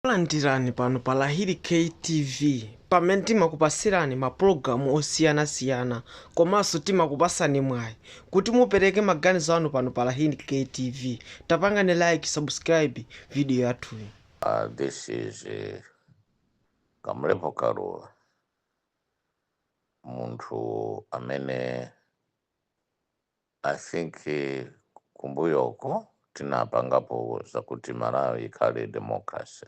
Takulandirani pano pa Lahiri K TV pamene timakupatsirani ma program osiyana siyana komanso timakupatsani mwayi kuti mupereke maganizo anu pano pa Lahiri K TV tapangani like subscribe video yathuyi. Uh, this is uh, Kamlepo Kaluwa, munthu amene I think kumbuyoko ndinapangapo zakuti Malawi ikhale democracy.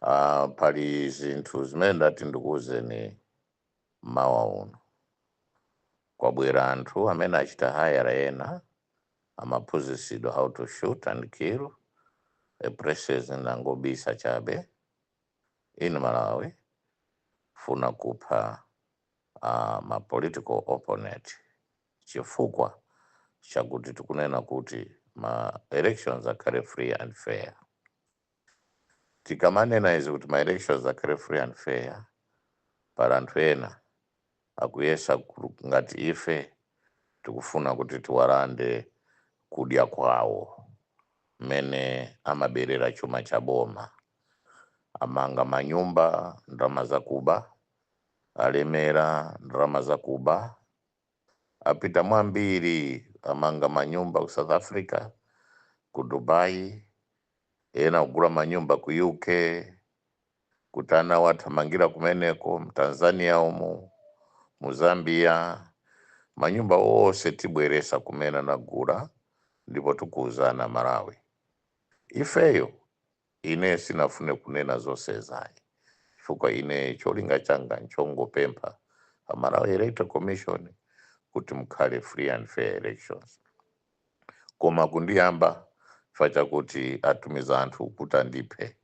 Ah, pali zinthu zimene ndati ndikuwuzeni mmawa uno. Kwabwera anthu amene achita hayala ena amaphunzitsidwa how to shoot and kill a president angobisa chabe in Malawi funa kupha uh, ma political opponent chifukwa chakuti tikunena kuti ma elections akhale free and fair tikamanena izi kuti ma elections akhale free and fair pali anthu ena akuyesa ngati ife tikufuna kuti tiwalande kudya kwawo mmene amaberera chuma cha boma amanga manyumba ndalama zakuba alemera ndalama zakuba apita mwa ambiri amanga manyumba ku south africa ku dubai ena kugula manyumba ku uk kuti anawo athamangira kumeneko mtanzania umu mu zambia manyumba onse tibweresa kumene anagula ndipo tikuuzana malawi ifeyo Ine sinafune kunena zosezi ayi chifukwa ine cholinga changa nchongopempha a Malawi Electoral Commission kuti mukhale free and fair elections koma kundiyamba chifukwa chakuti atumiza anthu kuti andiphe.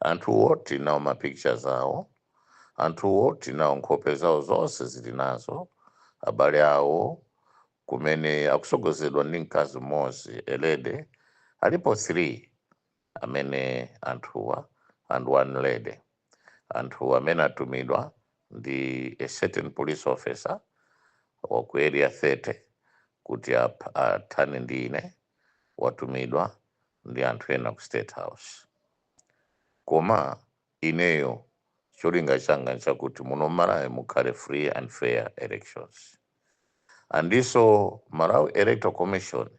Anthuwo tili nawo ma pictures awo, anthuwo tili nawo nkhope zawo zonse zili nazo abale awo kumene akusogozedwa ndi mkazi m'mozi a lady alipo 3. amene anthuwa and one lady anthu amene atumidwa ndi a certain police officer wa ku area 30 kuti ap- athane ndi ine watumidwa ndi anthu ena ku state house koma Ineyo cholinga changa nchakuti muno mmalawi mukhale free and fair elections ndinso Malawi Electoral Commission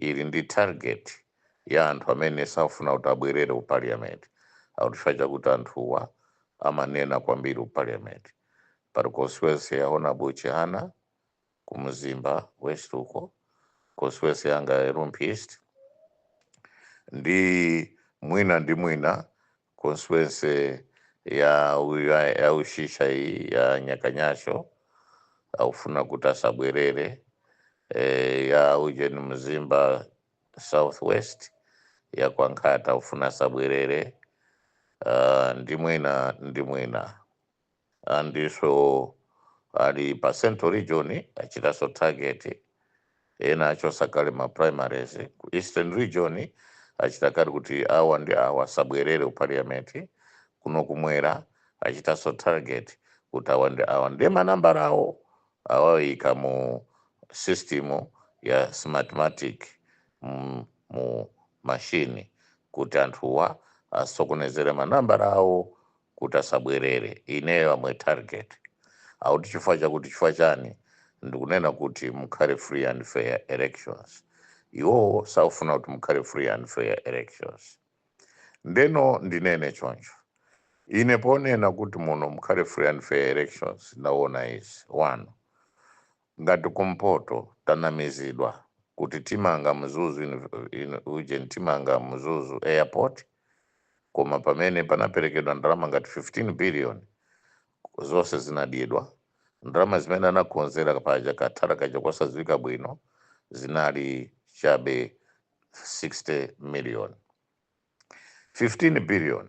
ili ndi target ya anthu amene sakufuna kuti abwerere ku parliament akuti chifukwa chakuti anthuwa amanena kwambiri ku parliament pali constituency ya Hon Chihana, ku Mzimba west uko, constituency yanga ya Rumphi East, ndi mwina ndi mwina constituency ya u- ya ya Usisya iyi ya Nyakanyasho akufuna kuti asabwerere eh, ya ujeni Mzimba Southwest ya kwa Mkhata akufuna asabwerere uh, ndi mwina ndi mwina andiso ali pa central region achitaso target ena achosa kale ma primaries ku eastern region achita kale kuti awa ndi awa asabwerere ku parliament kuno kumwera achitaso target kuti awa ndi awa ndiye manambala awo awayika mu system ya smartmatic mu, mu mashini kuti anthuwa asokonezere manambala awo kuti asabwerere. Ineyo am a target. Akuti chifukwa chakuti chifukwa chani ndikunena kuti mukhale free and fair elections. Iwowo sakufuna kuti mukhale free and fair elections. Ndeno ndinene choncho. Ine ponena kuti muno mukhale free and fair elections ndaona izi. 1. Ngati kumpoto tanamizidwa kuti timanga Mzuzu in ujeni timanga Mzuzu airport koma pamene panaperekedwa ndalama ngati 15 billion zonse zinadyedwa. Ndalama zimene anakonzera paja ka thala kaja kosadziwika bwino zinali chabe 60 million. 15 billion.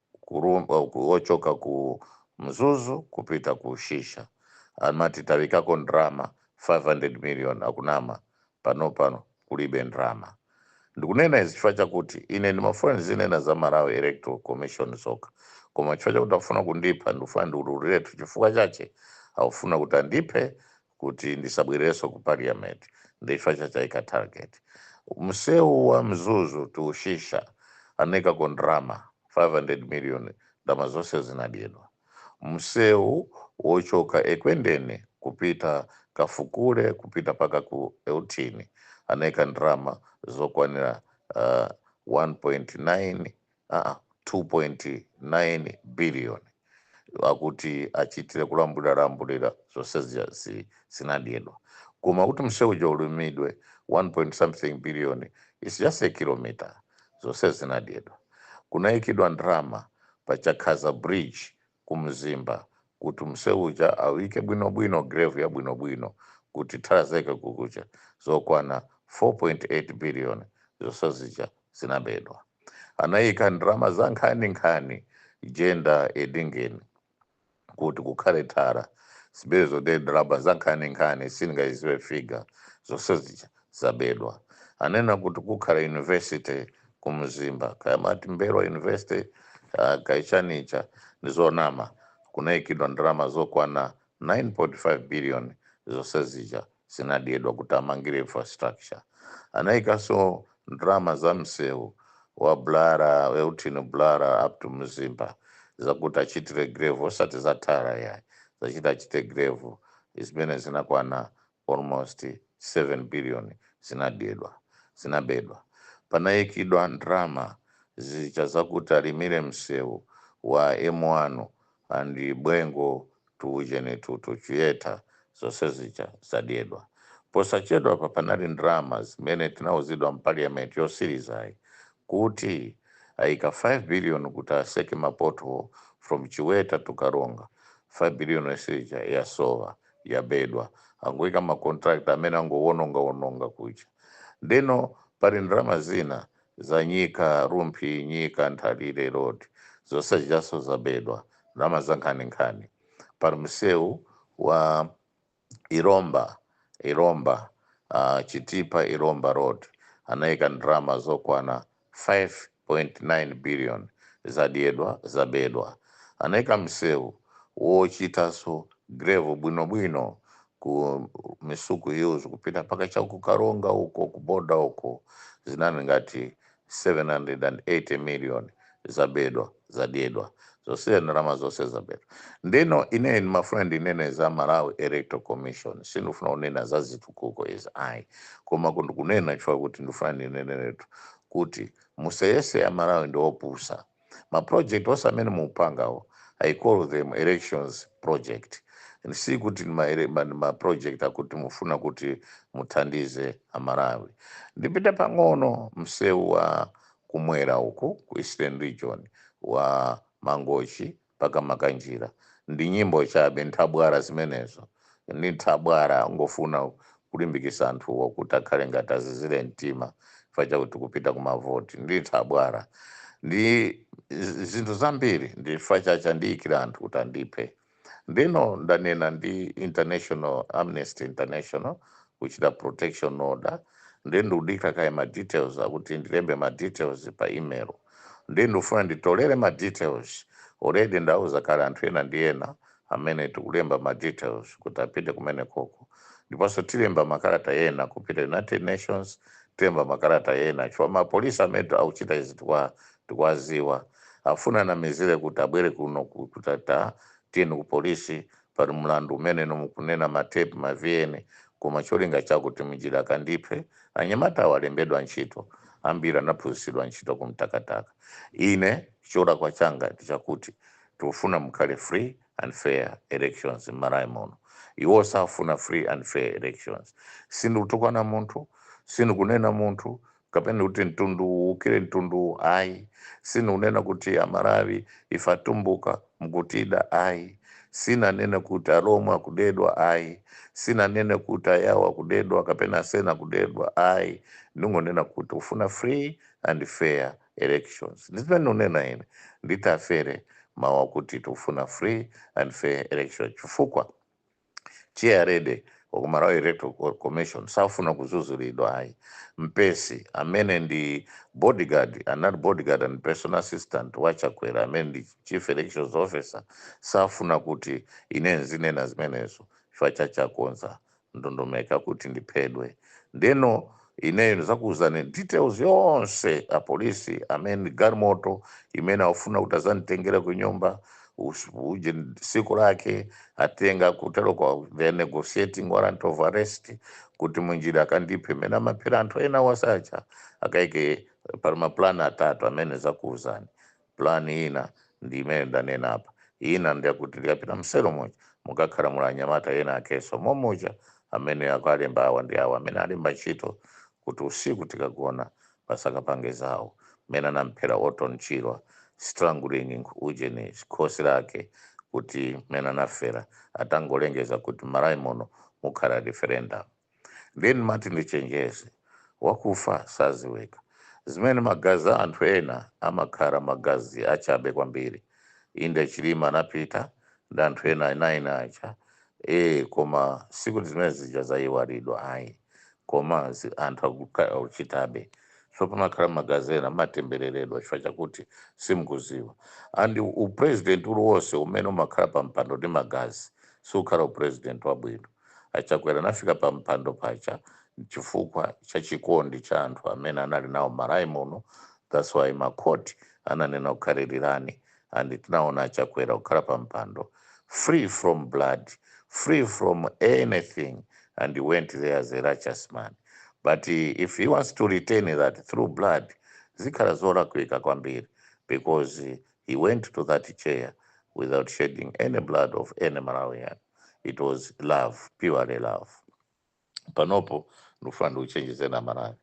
wochoka ku mzuzu kupita ku Usisya amati tayikako ndrama 500 million akunama panopa kulibe ndrama ndikunena izi chifukwa chakuti ine ndimafuna ndizinena za Malawi Electoral Commission zokha koma chifukwa chakuti akufuna kundipha ndikufuna ndiululiretu chifukwa chache akufuna kuti andiphe kuti ndisabwereso ku parliament ndi chifa chake aika target mseu wa mzuzu to Usisya anaikako ndrama 500 million ndrama zonse zinadyedwa mseu wochoka ekwendeni kupita kafukule kupita mpaka ku Euthini anaika ndrama zokwanira uh, 1.9 aa 2.9 billion akuti achitire kulambulira lambulira zonse zija zi- zinadyedwa koma kuti msewu uja ulimidwe 1 point something billion is just a kilometer zonse zinadyedwa kunaikidwa ndrama pa chakhaza bridge ku mzimba kuti mseu uja auike bwino bwino gravel ya bwino bwino kuti thala zake kuja zokwana 4.8 billion zonse zija zinabedwa anaika ndrama za nkhani nkhani jenda edingeni kuti kukhale thara zabedwa zonse ndrama za nkhani nkhani sindingaiziwe figure zonse zija zabedwa anena kuti kukhala university ku mzimba kaya amati m'mbelwa university uh, kaya chanicha ndi zonama kunaikidwa ndalama zokwana 9.5 billion zonse zija zinadyedwa kuti amangire infrastructure anaikanso ndalama za msewu wa bulala euthini bulala up to mzimba zakuti achitire gravel osati za tara yayi zachita achite gravel zimene zinakwana almost 7 billion zinabedwa. Panayikidwa ndalama zija zakuti alimire msewu wa M1 and Bwengu to ujeni to to Chiweta zonse zija zadyedwa. Posachedwapa panali ndalama zimene tinauzidwa mu parliament yosilizayi kuti ayika 5 billion kuti aseke ma pothole from Chiweta to Karonga, 5 billion yonse ija yasowa. yabedwa angoika ma contractor amene angowononga wononga kuja ndeno pali ndalama zina za nyika rumphi nyika nthalire road zonse zijaso zabedwa ndalama za nkhani nkhani pali mseu wa ilomba ilomba uh, chitipa ilomba road anaika ndalama zokwana 5.9 billion zadyedwa, zabedwa. Anaika mseu wochitanso gravel bwino bwino ku Misuku Hills kupita mpaka cha ku Karonga uko ku border uko zinali ngati 780 million zabedwa. zadyedwa zonse ndalama zonse zabedwa ndeno ine ndimafuna ndinene za malawi electoral commission sindifuna kunena za zitukuko izi ayi koma ku- ndikunena chifukwa kuti ndifuna ndineneretu kuti museyese amalawi ndi opusa maproject onse amene mukupangawo i call them elections project And si kuti ndi ma ele- ma- ndi maproject akuti mufuna kuti muthandize amalawi ndipita pang'ono msewu wa kumwera uku ku Eastern Region wa Mangochi mpaka Makanjira ndi nyimbo chabe nthabwala zimenezo ndi nthabwala angofuna kulimbikisa anthuwo kuti akhale ngati azizile mtima chifukwa chakuti tikupita ku mavoti ndi nthabwala ndi zinthu zambiri ndi chifukwa chache andiyikila anthu kuti andiphe. ndeno ndanena ndi international amnesty international kuchita protection order nde ndikudikira kaye ma details akuti ndilembe ma details pa email nde ndikufuna nditolere ma details already ndauza kale anthu ena ndi ena amene tikulemba ma details kuti apite kumene koko ndiponso tilemba makalata ena kupita united nations tilemba makalata ena chifukwa mapolisi amene akuchita izi tikwa Tikuwaziwa afuna anamizire kuti abwere kuno ku kuti tatiyeni ku police pali mlandu umene inu mukunena ma tape ma vn koma cholinga chawo kuti mnjira akandiphe. Anyamata awa alembedwa ntchito ambiri anaphunzitsidwa ntchito ku mtakataka. Ine cholakwa changa ndichakuti tikufuna mukhale free and fair elections mmalawi muno. Iwo safuna free and fair elections. Sindikutukwana munthu sindikunena munthu. kapena kuti mtundu uwu uwukire mtundu uwu ayi, sindikunena kuti amalawi ife atumbuka mukutida ayi, sinanene kuti alomwe akudedwa ayi, sinanene kuti ayao akudedwa kapena asena akudedwa ayi, ndingonena kuti tikufuna free and fair elections ndizimene ndikunena ine nditafere mau akuti tikufuna free and fair elections chifukwa. Chairlady wa ku Malawi Electoral Commission safuna kuzuzulidwa ayi. Mpesi amene ndi body guard anali body guard and personal assistant wa Chakwera amene ndi Chief Elections Officer safuna kuti ine nzinena zimenezo chifukwa chache akonza ndondomeko yakuti ndiphedwe. Ndeno Ineyo ndizakuuzani details yonse a police amene galimoto imene akufuna kuti azanditengere ku nyumba us- uje siku lake atenga kuteroko they are negotiating warrant of arrest kuti munjira akandiphe mmene amaphera anthu ena wasacha akaike pali mapulani atatu amene nzakuuzani Plan ina ndi imene ndanena apa. Ina ndi yakuti ndikapita mselo muja mukakhala muli anyamata ena akenso mommuja amene akualemba awa ndi awa amene alemba ntchito kuti usiku tikagona basi akapange zawo. Mmene anamphera Orton Chirwa strangling ujeni khosi lake kuti mmene anafera atangolengeza kuti mMalawi muno mukhala referendum. then ndimati ndichenjeze wakufa saziwika zimene magazi a anthu ena amakhala magazi achabe kwambiri inde chilima anapita ndi anthu ena 9 aja ee koma sikuti zimene zija zayiwalidwa ayi koma zi- anthu akuka- akuchitabe so pamakhala magazi ena amatembereredwa chifukwa chakuti simukuziwa and upresident uliwonse umene umakhala pa mpando ndi magazi sukhala upresident wabwino A Chakwera anafika pa mpando paja nchifukwa cha chikondi cha anthu amene anali nawo Malawi muno that's why ma court ananena kukhalilirani and tinaona a Chakwera kukhala pa mpando free from blood, free from anything and he went there as a righteous man but if he wants to retain that through blood zikhala zolakwika kwambiri because he went to that chair without shedding any blood of any Malawian. it was love purely love panopo ndikufuna ndikuchenjezeni amalawi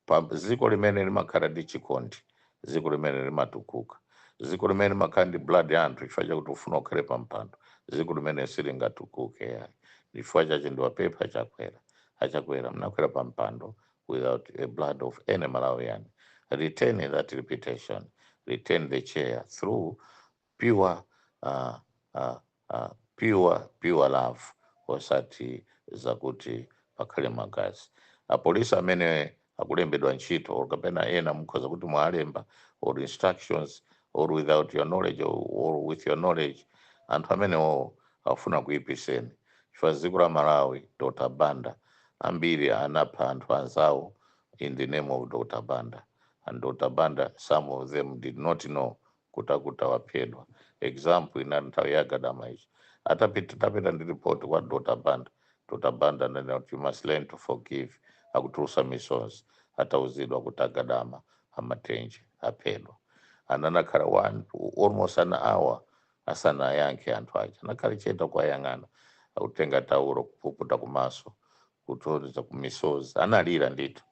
pa dziko limene limakhala ndi chikondi dziko limene limatukuka dziko limene limakhala ndi blood ya anthu chifukwa chakuti ufuna ukhale pa mpando dziko limene silingatukuke yayi chifukwa chache ndiwapempha achakwera achakwera munakwera pa mpando without a blood of any malawian retain that reputation retain the chair through pure uh, uh, uh, pure pure love osati zakuti pakhale magazi apolisi amene akulembedwa ntchito or kapena ena mukhoza kuti mwalemba or instructions or without your knowledge or, or with your knowledge anthu amenewo afuna akuyipiseni chifukwa dziko la malawi dr banda ambiri anapha anthu anzawo in the name of dr banda and dr banda some of them did not know kuti akuti waphedwa example inali nthawi ya gadama ichi atapita atapita ndi report kwa dr banda dr banda ananena kuti you must learn to forgive akutulusa misozi atauzidwa kuti agadama amatenje aphedwa anakhala one almost an hour asanayankhe anthu aja anakhala chete kuwayang'ana akutenga taulo kupukuta kumaso kusonyeza kuti misozi analira ndithu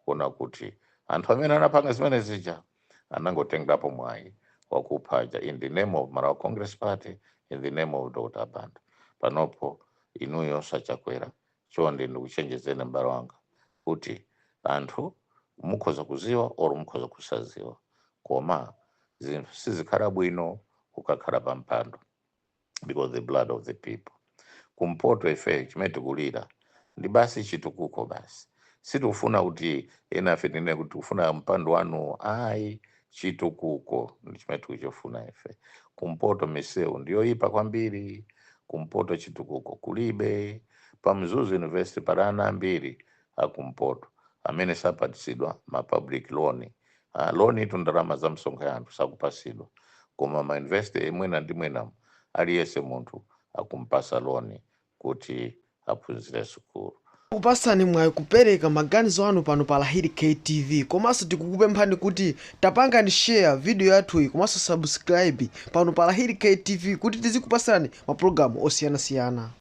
kuona kuti anthu amene anapanga zimene zija anangotengerapo mwayi wakuphawa aja in the name of Malawi Congress Party in the name of Dr. Banda panopo inuyo a Chakwera chonde ndikuchenjezeni m'bale wanga kuti anthu mukhoza kuziwa or mukhoza kusaziwa koma zinthu sizikhala bwino ukakhala pa mpando because the blood of the people kumpoto ife chimene tikulira ndi basi chitukuko basi sitikufuna kuti enafe tinene kuti tikufuna mpando wanu ayi chitukuko ndi chimene tikuchifuna ife kumpoto misewu ndiyoyipa kwambiri kumpoto chitukuko kulibe pa mzuzu university pali ana ambiri akumpoto amene sapatsidwa ma public loan loan itu ndalama za msonkho ya anthu sakupasidwa koma ma university mwina ndi mwinamu aliyese munthu akumpasa loan kuti aphunzire sukulu. Kupasani mwayi kupereka maganizo anu pano pa Lahiri K TV komanso tikukupemphani kuti tapangani share video yathuyi komanso subscribe pano pa Lahiri K TV kuti tizikupasani ma program osiyanasiyana.